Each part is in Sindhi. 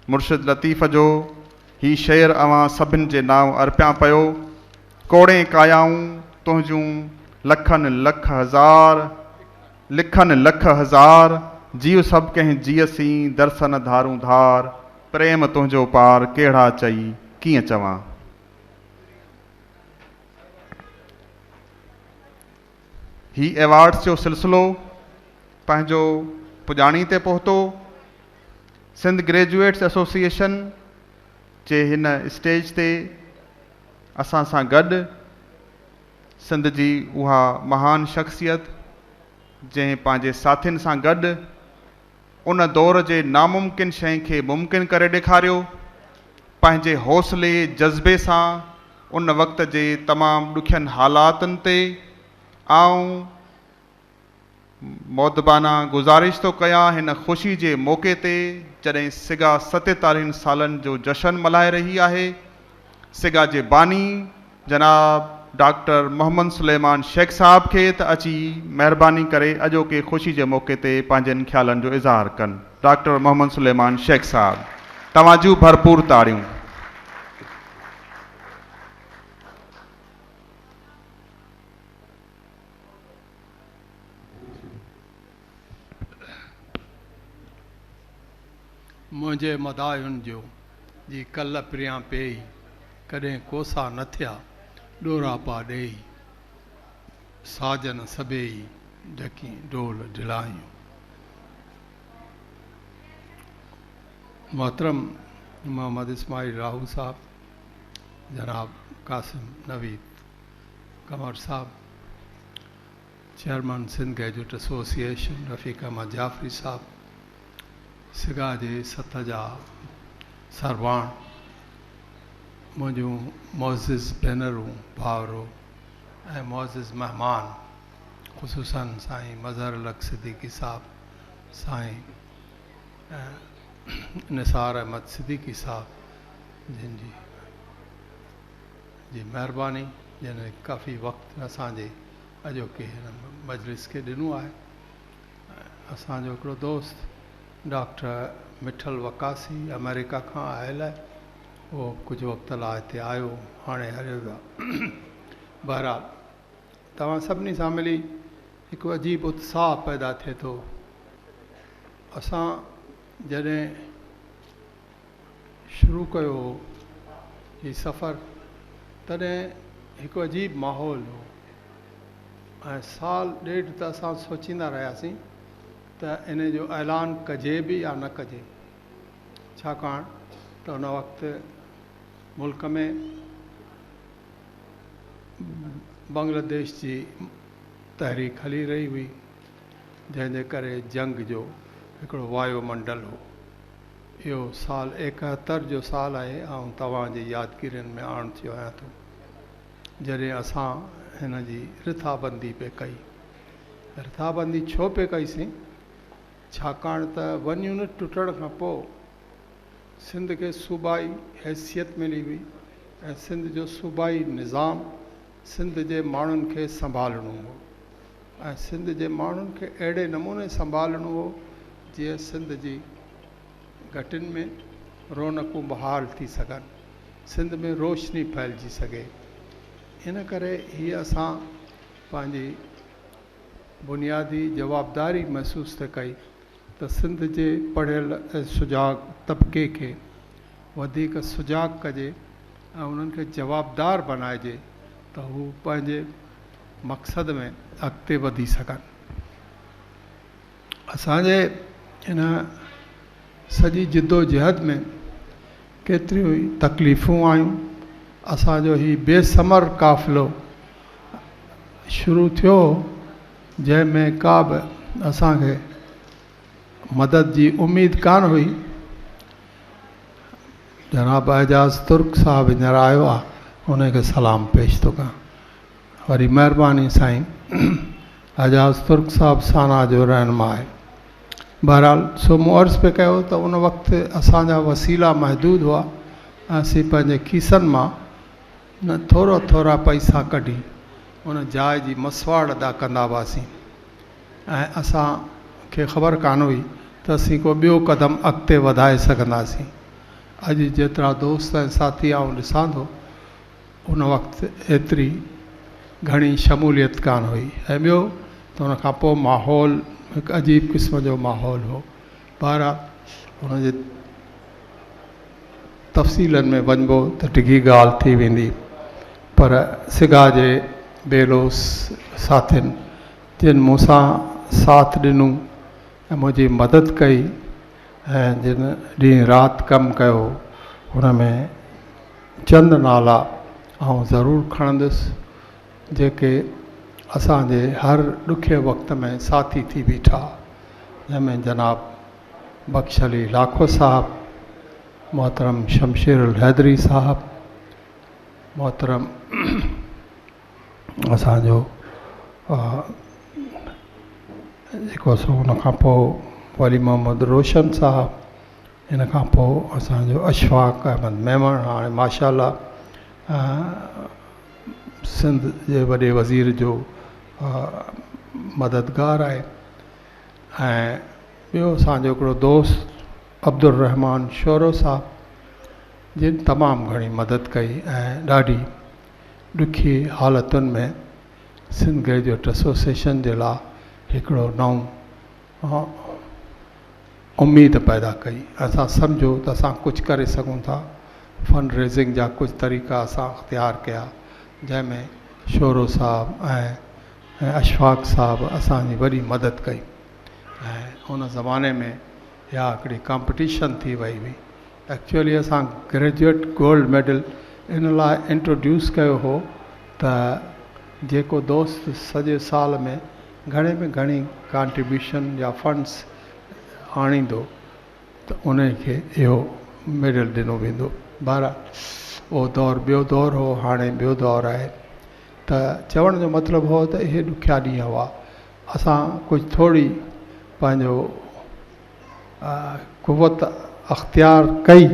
مرشد لطيف جو هي شعر اوهان سڀن جي نانء ارپيان پيو. ڪوڙين ڪايائون تنهنجون لکن لک هزار، لکن لک هزار، جيو سڀ ڪنهن جيء سين درسن ڌارون ڌار، پريم تنهنجو پار ڪهڙا چئي ڪيئن چوان. هي ايوارڊز جو سلسلو پنهنجو پڄاڻي تي پهتو. سنڌ گريجوئيٽس ايسوسيئيشن جي هن اسٽيج تي اسان سان گڏ سنڌ جي اها مهان شخصيت جنهن پنهنجي ساٿين سان گڏ ان دور جي ناممڪن شئي کي ممڪن ڪري ڏيکاريو. پنهنجي حوصلي جذبي سان ان وقت جي تمام ڏکين حالاتن تي آئون مودبانه گذارش ٿو ڪيان هن خوشي جي موقعي تي جڏهن سگا ستيتاليهن سالن جو جشن ملهائي رهي آهي. سگا جي باني جناب ڊاڪٽر محمد سليمان شيخ صاحب کي ته اچي مهرباني ڪري اڄوڪي خوشي جي موقعي تي پنهنجن خيالن جو اظهار ڪن ڊاڪٽر محمد سليمان شيخ صاحب توهان جون ڀرپور تاڙيون. منهنجي مداحن جو جي ڪل پريان پيئي، ڪڏهن ڪوسا نه ٿيا ڏوراپا ڏيئي، ساجن سڀيئي ڍڪين ڍول ڍلائيون. محترم محمد اسماعيل راهو صاحب، جناب قاسم نويد ڪنور صاحب، chairman Sindh gadget association Rafiq Ahmed Jafri صاحب سگا جي سٿ جا سرواڻ، منهنجون معزز ڀينرون ڀائرو ۽ معزز مهمان خصوصاً سائين مظهر الحق صديقي صاحب، سائين نثار احمد صديقي صاحب جن جي مهرباني جن ڪافي وقت اسان جي اڄوڪي هن مجلس کي ڏنو آهي ۽ اسان جو هڪڙو دوست ڊاڪٽر مٺل وقاصي آمريڪا کان آيل آهي اهو به ڪجهه وقت لاء هتي آيو هاڻي هليو ويو آهي بهرحال توهان سڀني سان ملي هڪ عجيب اتساهه پيدا ٿئي ٿو اسان جڏهن شروع ڪيو هو هي سفر تڏهن هڪ عجيب ماحول هو ۽ سال ڏيڍ ته اسان سوچيندا رهياسين ته ان جو اعلان ڪجي به يا نه ڪجي ڇاڪاڻ ته ان وقت ملڪ ۾ بنگلاديش جي تحريڪ هلي رهي هئي جنهن جي ڪري جنگ جو هڪڙو وايو منڊل هو اهو سال ايڪهتر جو سال آهي آئون توهان جي يادگيرين ۾ آڻ ٿيو آهيان ٿو جڏهن اسان هن جي رٿابندي پئي ڪئي رٿابندي ڇو پئي ڪئي سين ڇاڪاڻ ته ون يونٽ ٽٽڻ کان پوء سنڌ کي صوبائي حيثيت ملي هئي ۽ سنڌ جو صوبائي نظام سنڌ جي ماڻهن کي سنڀالڻو هو ۽ سنڌ جي ماڻهن کي اهڙي نموني سنڀالڻو هو جيئن سنڌ جي گهٽين ۾ رونقون بحال ٿي سگهن سنڌ ۾ روشني ڦهلجي سگهي ان ڪري هي اسان پنهنجي بنيادي جوابداري محسوس ٿي ڪئي ته سنڌ جي پڙهيل ۽ سجاڳ طبقي کي وڌيڪ سجاڳ ڪجي ۽ انهن کي جوابدار بنائجي ته هو پنهنجي مقصد ۾ اڳتي وڌي سگهن. اسان جي ان سڄي جدوجهد ۾ ڪيتريون ئي تڪليفون آيون. اسان جو هي بي ثمر قافلو شروع ٿيو هو. جنهن ۾ ڪا به اسان کي مدد جي اميد ڪانه هئي. جناب اعجاز ترڪ صاحب هينئر آيو آ انهي کي سلام پيش ٿو ڪيان وري مهرباني سائين اعجاز ترڪ صاحب سانا جو رهنما آهي بهرحال سو مون عرض پي ڪيو ته ان وقت اسان جا وسيلا محدود هئا ۽ اسين پنهنجي کيسن مان نه ٿورا ٿورا پئسا ڪڍي ان جاء جي مسواڙ ادا ڪندا هئاسين ۽ اسان کي خبر ڪانه هئي ته اسين ڪو ٻيو قدم اڳتي وڌائي سگهنداسين. اڄ جيترا دوست ۽ ساٿي آئون ڏسان ٿو ان وقت ايتري گهڻي شموليت ڪانه هئي ۽ ٻيو ته ان کان پوء ماحول هڪ عجيب قسم جو ماحول هو. ٻاهران ان جي تفصيلن ۾ وڃبو ته ڊگهي ڳالهه ٿي ويندي پر سگا جي بي لوث ساٿين جن مون سان ساٿ ڏنو ۽ منهنجي مدد ڪئي ۽ جن ڏينهن رات ڪم ڪيو ان ۾ چند نالا آئون ضرور کڻندس جيڪي اسان جي هر ڏکئي وقت ۾ ساٿي ٿي بيٺا جنهن ۾ جناب بخش علي لاکو صاحب، محترم شمشير الحيدري صاحب، محترم اسان جو جيڪو سو ان کان پوء ولي محمد روشن صاحب ان کان پوء اسان جو اشفاق احمد ميمڻ هاڻي ماشاء الله سنڌ جي وڏي وزير جو مددگار آهي ۽ ٻيو اسان جو هڪڙو دوست عبدالرحمان شورو صاحب جن تمام گهڻي مدد ڪئي ۽ ڏاڍي ڏکي حالتن ۾ سنڌ گريجوئيٽ ايسوسيئيشن جي لاء هڪڙو نئون اميد پيدا ڪئي اسان سمجهيو ته اسان ڪجهه ڪري سگهون ٿا فنڊ ريزنگ جا ڪجهه طريقا اسان اختيار ڪيا جنهن ۾ شورو صاحب ۽ اشفاق صاحب اسان جي وڏي مدد ڪئي ۽ ان زماني ۾ اها هڪڙي ڪامپٽيشن ٿي وئي هئي ايڪچوئلي اسان گريجوئيٽ گولڊ ميڊل ان لاء انٽروڊيوس ڪيو هو ته جيڪو دوست سڄي سال ۾ گهڻي ۾ گهڻي ڪانٽريبيوشن يا فنڊز آڻيندو ته انهي کي اهو ميڊل ڏنو ويندو بهرحال اهو دور ٻيو دور هو هاڻي ٻيو دور آهي ته چوڻ جو مطلب هو ته اهي ڏکيا ڏينهن هئا اسان ڪجهه ٿوري پنهنجو قوت اختيار ڪئي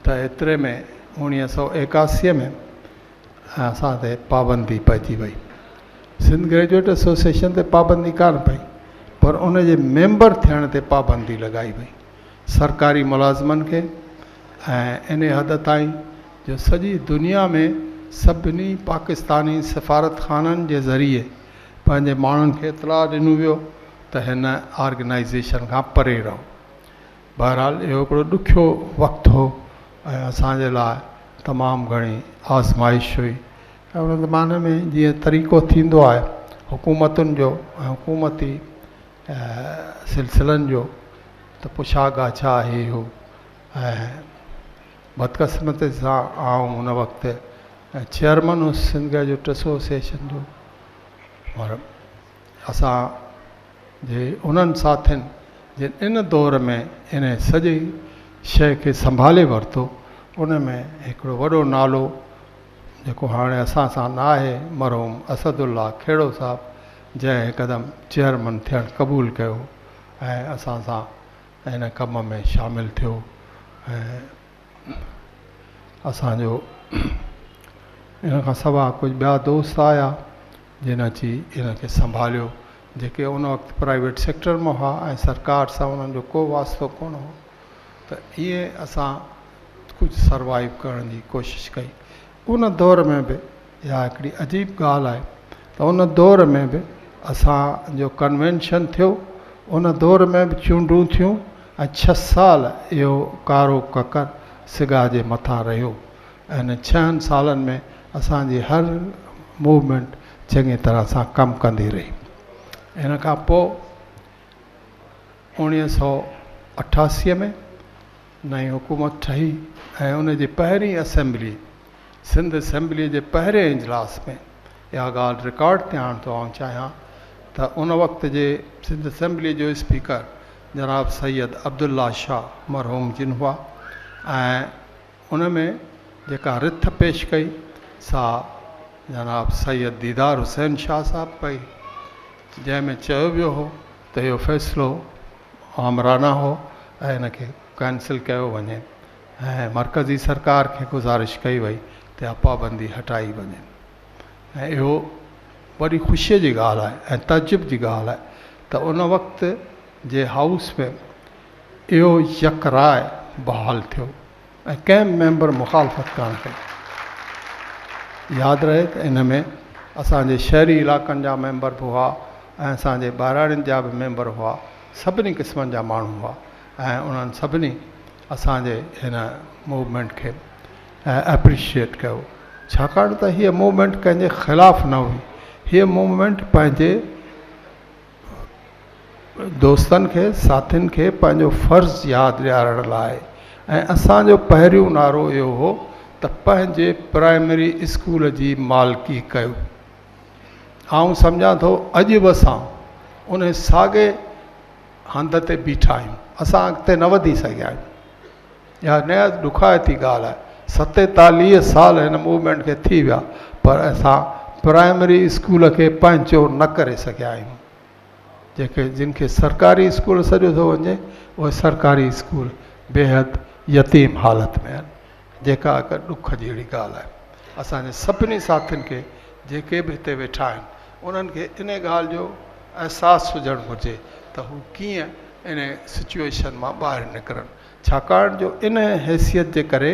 ته ايتري ۾ اوڻيهه سو ايڪاسي ۾ ۽ اسان تي پابندي پئجي وئي سنڌ گريجوئيٽ ايسوسيئيشن تي پابندي ڪانه پئي پر ان جي ميمبر ٿيڻ تي پابندي لڳائي وئي سرڪاري ملازمن کي ۽ انهي حد تائين جو سڄي دنيا ۾ سڀني پاڪستاني سفارتخانن جي ذريعي پنهنجي ماڻهن کي اطلاع ڏنو ويو ته هن آرگنائيزيشن کان پري رهو بهرحال اهو هڪڙو ڏکيو وقت هو ۽ اسان جي لاء تمام گهڻي آزمائش هئي ۽ ان زماني ۾ جيئن طريقو ٿيندو آهي حڪومتن جو ۽ حڪومتي سلسلن جو ته پڇا ڳاڇا هي هو ۽ بدقسمتي سان آئون ان وقت چيئرمن هوس سنڌ گئجٽ ايسوسيئيشن جو اسان جي انهن ساٿين جن ان دور ۾ ان سڄي شيء کي سنڀالي ورتو ان ۾ هڪڙو وڏو نالو جيڪو هاڻي اسان سان نه آهي مرحوم اسد الله کهڙو صاحب جنهن هڪدم چيئرمن ٿيڻ قبول ڪيو ۽ اسان سان ان ڪم ۾ شامل ٿيو ۽ اسان جو ان کان سواء ڪجهه ٻيا دوست آيا جن اچي ان کي سنڀاليو، جيڪي ان وقت پرائيويٽ سيڪٽر مان هئا ۽ سرڪار سان انهن جو ڪو واسطو ڪونه هو ته ائين اسان ڪجهه سروائيو ڪرڻ جي ڪوشش ڪئي. ان دور ۾ به اها هڪڙي عجيب ڳالهه آهي ته ان دور ۾ به اسان جو ڪنوينشن ٿيو، ان دور ۾ به چونڊون ٿيون ۽ ڇهه سال اهو ڪارو ڪڪر سگا جي مٿان رهيو. ان ڇهن سالن ۾ اسان جي هر موومينٽ چڱي طرح سان ڪم ڪندي رهي. ان کان پوء اوڻيهه سؤ اٺاسي ۾ نئين حڪومت ٺهي ۽ ان جي پهرين اسيمبلي سنڌ اسيمبلي جي پهرين اجلاس ۾ اها ڳالهه رڪارڊ تي آڻڻ ٿو آئون چاهيان ته ان وقت جي سنڌ اسيمبلي جو اسپيڪر جناب سيد عبدالله شاهه مرحوم جن هئا ۽ ان ۾ جيڪا رٿ پيش ڪئي سا جناب سيد ديدار حسين شاهه صاحب ڪئي جنهن ۾ چيو ويو هو ته اهو فيصلو آمرانه هو ۽ ان کي ڪينسل ڪيو وڃي ۽ مرڪزي سرڪار کي گذارش ڪئي وئي ته اها پابندي هٽائي وڃي ۽ اهو وڏي خوشيء جي ڳالهه آهي ۽ تعجب جي ڳالهه آهي ته ان وقت جي هائوس ۾ اهو يڪ راء بحال ٿيو ۽ ڪنهن به ميمبر مخالفت ڪانه ڪئي. ياد رهي ته ان ۾ اسان جي شهري علائقن جا ميمبر به هئا ۽ اسان جي ٻهراڙين جا به ميمبر هئا، سڀني قسمن جا ماڻهو هئا ۽ انهن سڀني اسان جي هن موومينٽ کي اپريشيئيٽ ڪيو ڇاڪاڻ ته هيء موومينٽ ڪنهن جي خلاف نه هئي، هيء موومينٽ پنهنجي. دوستن کي ساٿين کي پنهنجو فرض ياد ڏيارڻ لاء ۽ اسانجو پهريون نعرو اهو هو ته پنهنجي پرائمري اسڪول جي مالڪي ڪيو آئون سمجهان ٿو اڄ به اسان ان ساڳي هنڌ تي بيٺا آهيون اسان اڳتي نه وڌي سگهيا آهيون اها نهايت ڏکائتي ڳالهه آهي. ستيتاليهه سال هن موومينٽ کي ٿي ويا پر اسان پرائمري اسڪول کي پنهنجو نه ڪري سگهيا آهيون. جيڪي جن کي سرڪاري اسڪول سڏيو ٿو وڃي اهي سرڪاري اسڪول بيحد يتيم حالت ۾ آهن جيڪا هڪ ڏک جهڙي ڳالهه آهي. اسان جي سڀني ساٿين کي جيڪي به هتي ويٺا آهن انهن کي انهي ڳالهه جو احساس هجڻ گهرجي ته هو ڪيئن ان سچوئيشن مان ٻاهر نڪرن ڇاڪاڻ جو ان حيثيت جي ڪري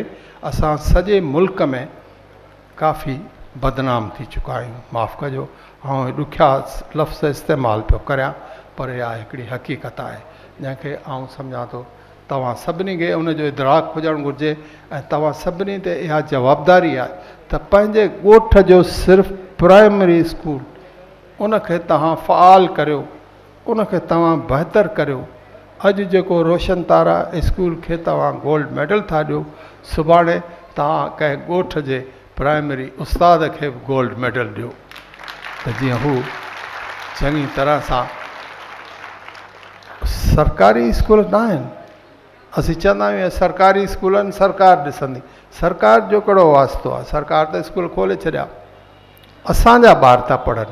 اسان سڄي ملڪ ۾ ڪافي بدنام ٿي چڪا آهيون معاف ڪجو آئون هي ڏکيا لفظ استعمال پيو ڪريان پر اها هڪڙي حقيقت آهي جنهن کي آئون سمجهان ٿو توهان سڀني کي ان جو ادراڪ هجڻ گهرجي ۽ توهان سڀني تي اها جوابداري آهي ته پنهنجي ڳوٺ جو صرف پرائمري اسڪول ان کي توهان فعال ڪريو ان کي توهان بهتر ڪريو. اڄ جيڪو روشن تارا اسڪول کي توهان گولڊ ميڊل ٿا ڏيو، سڀاڻي توهان ڪنهن ڳوٺ جي پرائمري استاد کي به گولڊ ميڊل ڏيو ته جيئن هو چڱي طرح سان سرڪاري اسڪول نه آهن اسين چوندا آهيون اهي سرڪاري اسڪول آهن سرڪار ڏسندي سرڪار جو ڪهڙو واسطو آهي سرڪار ته اسڪول کولي ڇڏيا اسان جا ٻار ٿا پڙهن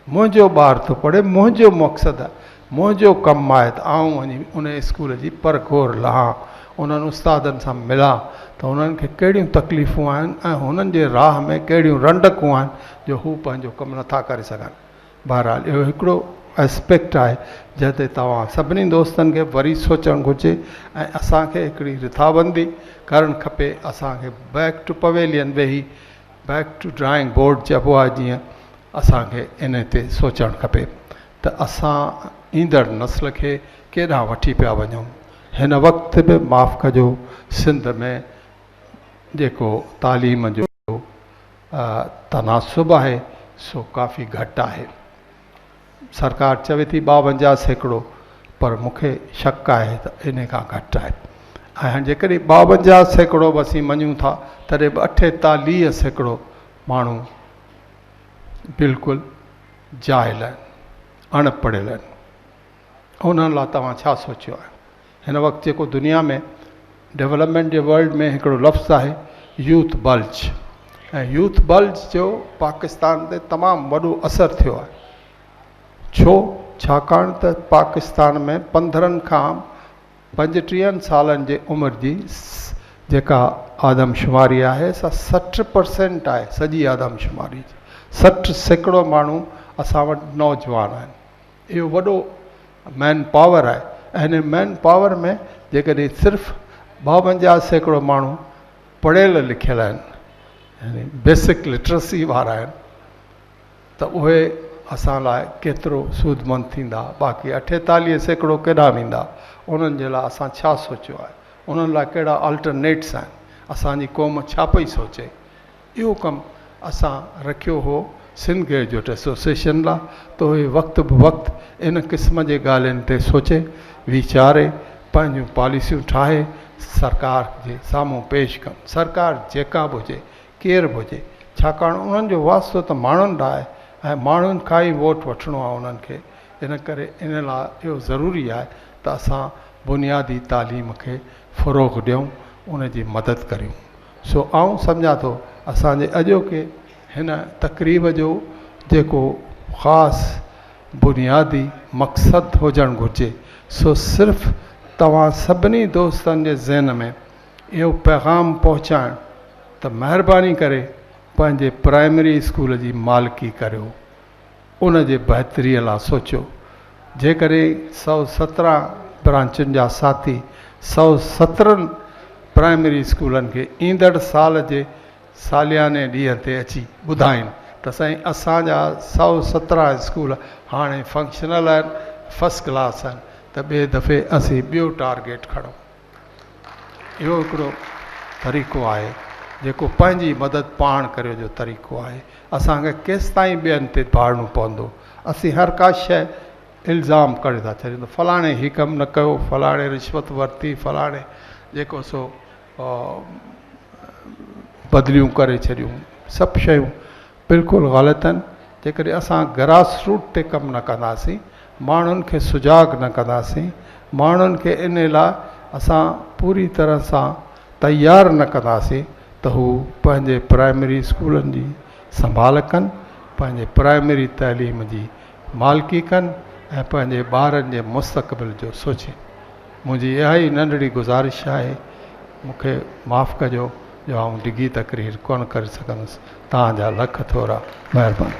منهنجو ٻار ٿو پڙهي، منهنجو مقصد آهي، منهنجو ڪم آهي ته آئون وڃي ان اسڪول جي پرکور لهان، انهن استادن سان ملان ته هنن کي ڪهڙيون تڪليفون آهن ۽ هنن جي راهه ۾ ڪهڙيون رنڊڪون آهن جو هو پنهنجو ڪم نه ٿا ڪري سگهن. بهرحال اهو هڪڙو Aspect آهي جنهن تي توهان سڀني دوستن کي وري سوچڻ گهرجي ۽ اسان کي هڪڙي رٿابندي ڪرڻ کپي، اسان کي Back to Pavilion ويهي، بيڪ ٽو ڊرائنگ بورڊ چئبو آهي جيئن اسان کي ان تي سوچڻ کپي ته اسان ايندڙ نسل کي ڪيڏانهن وٺي پيا وڃون هن وقت به معاف ڪجو سنڌ ۾ جيڪو تعليم جو تناسب آهي سو ڪافي گهٽ آهي سرڪار چوي ٿي ٻاونجاهه سيڪڙو پر مون کي شڪ آهي ته ان کان گهٽ آهي ۽ هاڻي جيڪڏهن ٻاونجاهه سيڪڙو به اسين مڃون ٿا تڏهن به اٺيتاليهه سيڪڙو ماڻهو بلڪل جاهل آهن اڻ پڙهيل آهن انهن لاء توهان ڇا سوچيو آهي هن وقت جيڪو دنيا ۾ ڊولپمينٽ جي ورلڊ ۾ هڪڙو لفظ آهي يوٿ بلج ۽ يوٿ بلج جو پاڪستان تي تمام وڏو اثر ٿيو آهي ڇو ڇاڪاڻ ته پاڪستان ۾ پندرهن کان پنجٽيهن سالن جي عمر جي جيڪا آدمشماري آهي سا سٺ پرسينٽ آهي سڄي آدمشماري جي سٺ سيڪڙو ماڻهو اسان وٽ نوجوان آهن اهو وڏو مين پاور آهي ۽ هن مين پاور ۾ جيڪڏهن صرف ٻاونجاهه سيڪڙو ماڻهو پڙهيل لکيل آهن يعني بيسڪ لٽرسي وارا آهن ته اهي اسان لاء ڪيترو سودمند ٿيندا باقي اٺيتاليهه سيڪڙو ڪيڏانهن ويندا انهن جي لاء اسان ڇا سوچيو آهي انهن لاء ڪهڙا آلٽرنيٽس آهن اسان جي قوم ڇا پئي سوچي اهو ڪم اسان رکيو هو سنڌ گريجوئيٽ ايسوسيئيشن لا ته اهي وقت به وقت ان قسم جي ڳالهين تي سوچي ويچاري پنهنجون پاليسيون ٺاهي سرڪار جي سامهون پيش ڪن سرڪار جيڪا به هجي ڪير به هجي ڇاڪاڻ انهن جو واسطو ته ماڻهن لا آهي ۽ ماڻهن کان ئي ووٽ وٺڻو آهي انهن کي ان ڪري ان لا اهو ضروري آهي ته اسان بنيادي تعليم کي فروغ ڏيون ان جي مدد ڪريون سو آئون سمجهان ٿو اسان جي اڄوڪي هن تقريب جو جيڪو خاص بنيادي مقصد هجڻ گهرجي سو صرف توهان سڀني دوستن جي ذهن ۾ اهو پيغام پهچائڻ ته مهرباني ڪري پنهنجي پرائمري اسڪول جي مالڪي ڪريو. ان جي بهتري لا سوچيو. جيڪڏهن سؤ سترهن برانچن جا ساٿي سؤ سترهن پرائمري اسڪولن کي ايندڙ سال جي سالياني ڏينهن تي اچي ٻڌائين ته سائين اسان جا سؤ سترهن اسڪول هاڻي فنڪشنل آهن، فرسٽ ڪلاس آهن ته ٻئي دفعي اسين ٻيو ٽارگيٽ کڻون. اهو هڪڙو طريقو آهي جيڪو پنهنجي مدد پاڻ ڪريو جو طريقو آهي. اسان کي ڪيستائين ٻين تي ڀاڙڻو پوندو. اسين هر ڪا شيء الزام ڪڍي ٿا ڇڏيون ته فلاڻي هي ڪم نه ڪيو، فلاڻي رشوت ورتي، فلاڻي جيڪو سو بدليون ڪري ڇڏيون. سڀ شيون بلڪل غلط آهن جيڪڏهن اسان گراس روٽ تي ڪم نه ڪنداسين ماڻهن کي سجاڳ نه ڪنداسين ماڻهن کي ان لاء اسان پوري طرح سان تيار نه ڪنداسين ته هو پنهنجي پرائمري اسڪولن جي سنڀال ڪن پنهنجي پرائمري تعليم جي مالڪي ڪن ۽ پنهنجي ٻارن جي مستقبل جو سوچين منهنجي اها ئي ننڍڙي گذارش آهي، مون کي معاف ڪجو جو آئون ڊگهي تقرير ڪونه ڪري سگهندس. توهان جا لک ٿورا. مهرباني.